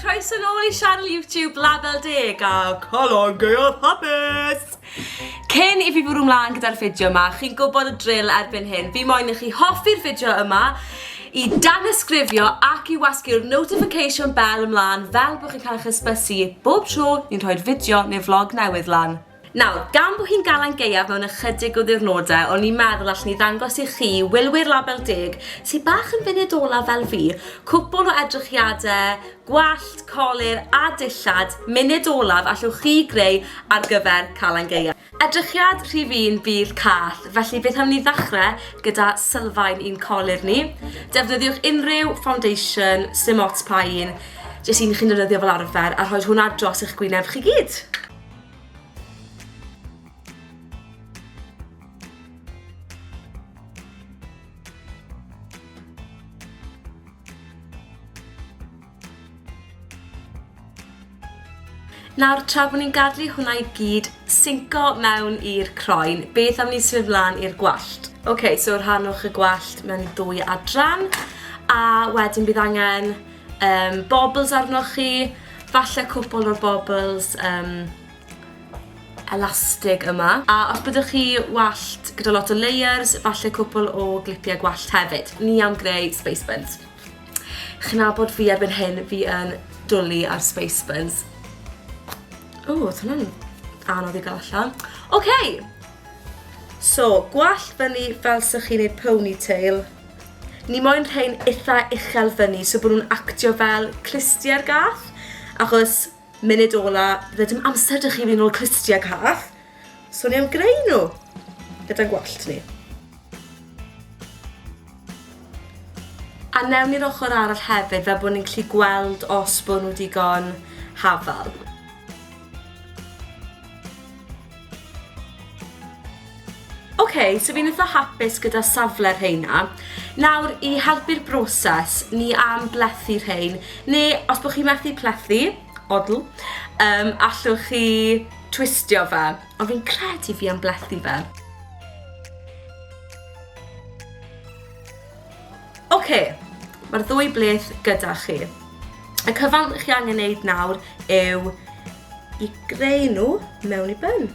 croeso nôl i sianel YouTube Label Deg a Colon Gaeaf Hapus! Cyn i fi fwrw mlaen gyda'r fideo yma, chi'n gwybod y drill erbyn hyn, fi moyn i chi hoffi'r fideo yma, i danysgrifio ac i wasgu'r notification bell ymlaen fel bod chi'n cael eich ysbysu bob tro ni'n rhoi'r fideo neu vlog newydd lan. Nawr, gan bo hi'n Galan Gaeaf mewn ychydig o ddiwrnodau, o'n i'n meddwl allen i ddangos i chi, wylwyr Label Deg, sy bach yn funud olaf fel fi, cwpwl o edrychiadau gwallt, colur a dillad, munud olaf allwch chi greu ar gyfer Calan Gaeaf. Edrychiad rhif un bydd cath, felly beth am ni ddechrau gyda sylfaen i'n colur ni. Defnyddiwch unrhyw foundation, sdim ots pa un, jyst un chi'n defnyddio fel arfer, a rhoi hwnna dros eich gwyneb chi gyd. Nawr, tra bod ni'n gadlu hwnna i gyd synco mewn i'r croen, beth am ni symud flan i'r gwallt? Oce, okay, so rhanwch y gwallt mewn i ddwy adran, a wedyn bydd angen Um, bobbles arnoch chi, falle cwpl o'r bobbles um, elastig yma. A os byddwch chi wallt gyda lot o layers, falle cwpl o glipiau gwallt hefyd. Ni am greu space buns. Chi'n abod fi erbyn hyn, fi yn dwlu ar space buns. O, oedd hwnna'n anodd i gael allan. Oce! Okay. So, gwallt fyny fel sy'ch chi'n ei ponytail. Ni moyn rhein itha uchel fyny so bo nhw'n actio fel clustier gath, achos munud ola fydde dim amser 'da chi i fyn' nôl clustier cath, so ni am greu nhw gyda'n gwallt ni. A newn ni'r ochor arall hefyd fel bo' ni'n gallu gweld os bo' nhw digon hafal. OK, so fi'n eitha hapus gyda safle'r rheina. Nawr, i helpu'r broses, ni am blethu rhein, neu os bod chi'n methu plethu, odl, um, allwch chi twistio fe, ond fi'n credu fi am blethu fe. Oce, mae'r ddwy bleth gyda chi. Y cyfan chi angen neud nawr yw i greu nhw mewn i byn.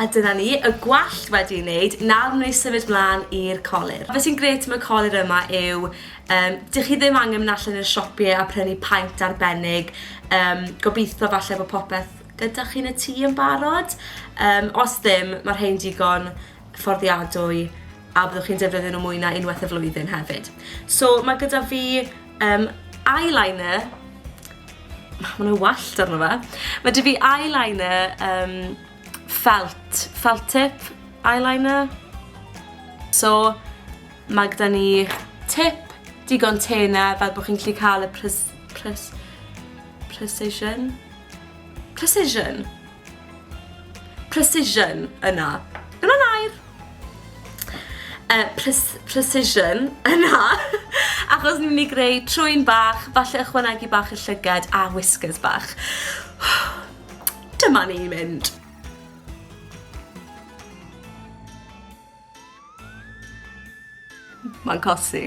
A dyna ni, y gwallt wedi ei wneud, nawr ni symud mlaen i'r colir. Fe sy'n gret am y colir yma yw, um, dych chi ddim angen mynd allan i'r siopie a prynu paent arbennig, um, gobeithio falle bod popeth Ydach chi'n y tŷ yn barod? Yym, os ddim, mae rhei'n digon fforddiadwy a byddwch chi'n defnyddio nhw mwy na unwaith y flwyddyn hefyd. So, mae gyda fi um, eyeliner, mae yna wallt arno fe, mae dy fi eyeliner um, felt, felt tip eyeliner. So, mae gyda ni tip digon tena fel bod chi'n gallu cael y pres, pres, precision Precision. Precision yna. Yna nair. Uh, precision yna. Achos ni'n mynd i greu trwy'n bach, falle ychwanegu bach y llygad a whiskers bach. Dyma ni'n mynd. Mae'n cosi.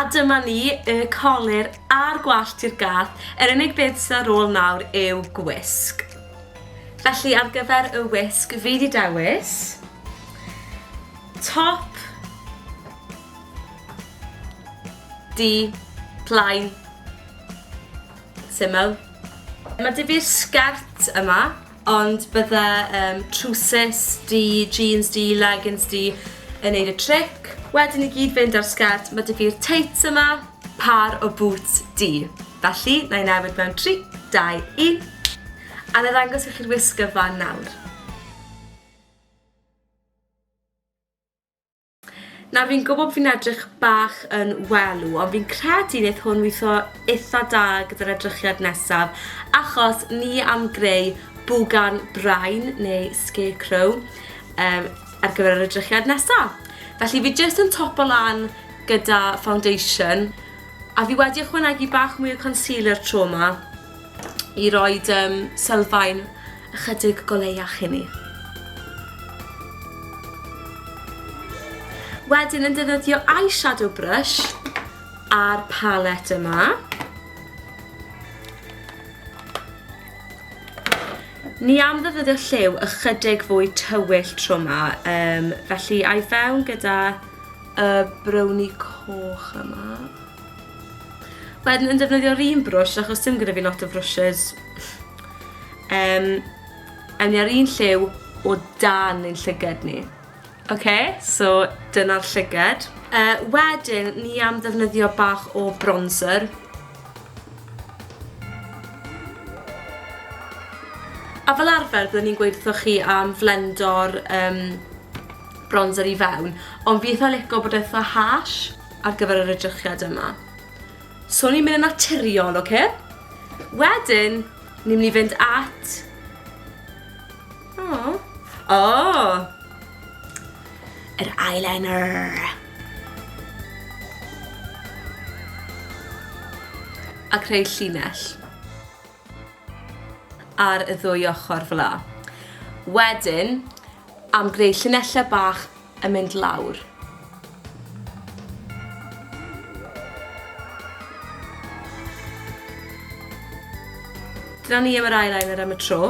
A dyma ni, y colur a'r gwallt i'r gath, yr unig beth sydd ar ôl nawr yw gwisg. Felly ar gyfer y wisg fi di dewis top di plaen syml. Mae dy fi'r sgert yma. Ond bydde um, trwsus di, jeans di, leggings di yn neud y tric. Wedyn i gyd fynd ar sgert, mae dy fi'r teits yma, par o boots di. Felly, na i newid mewn 3, 2, 1. A na ddangos i chi'r wisg gyfan nawr. Nawr fi'n gwybod fi'n edrych bach yn welw, ond fi'n credu wneith hwn weithio eitha da gyda'r edrychiad nesaf, achos ni am greu bwgan brain neu scarecrow um, ar gyfer yr edrychiad nesaf. Felly fi jyst yn topo lan gyda foundation, a fi wedi ychwanegu bach mwy o concealer tro yma, i roed um, sylfaen ychydig goleiach i ni. Wedyn yn defnyddio eyeshadow brush a'r palet yma. Ni am ddefnyddio lliw ychydig fwy tywyll tro yma, um, felly a'i fewn gyda y browni coch yma. Wedyn yn defnyddio'r un brwsh achos dim gyda fi lot o frwshes. Ehm awn ni ar un lliw o dan ein llyged ni. Oce so dyna'r llyged. Yy wedyn ni am ddefnyddio bach o bronzer. A fel arfer byddwn ni'n gweud wrthoch chi am flendo'r yym bronzer i fewn ond fi itha lico bod e itha harsh. ar gyfer yr edrychiad yma. So ni'n mynd yn naturiol, oce? Okay? Wedyn, ni'n mynd i fynd at... Oh. Oh. Yr eyeliner. A creu llinell. Ar y ddwy ochr fel la. Wedyn, am greu llinellau bach yn mynd lawr. Dyna ni am yr eyeliner am y tro.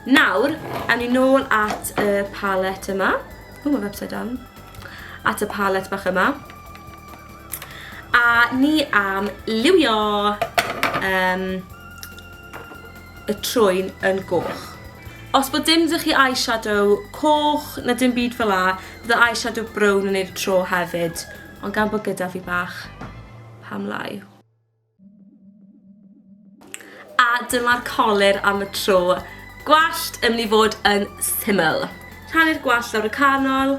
Nawr, awn ni nôl at y palette yma. O, mae upside down. At y palette bach yma. A ni am liwio um, y trwyn yn goch. Os bod dim dych chi eyeshadow coch na dim byd fel la, fydda eyeshadow brown yn eir tro hefyd, ond gan bod gyda fi bach, pam lai. A dyma'r colir am y tro. Gwallt yn mynd i fod yn syml. Rhannu'r gwallt lawr y canol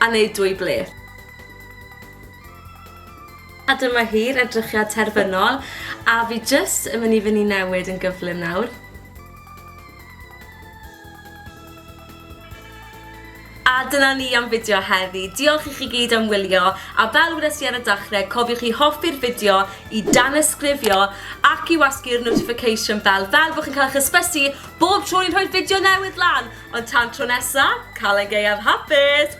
a neud dwy ble. A dyma hi'r edrychiad terfynol, a fi jyst yn mynd i fyny newid yn gyflym nawr. A dyna ni am fideo heddi. Diolch i chi gyd am wylio, a fel wedes i ar y dachrau, cofiwch i hoffi'r fideo, i danysgrifio, ac i wasgu'r notification bell, fel bod chi'n cael eich hysbysu bob tro ni'n rhoi'r fideo newydd lan! Ond tan tro nesa, Calan Gaeaf hapus!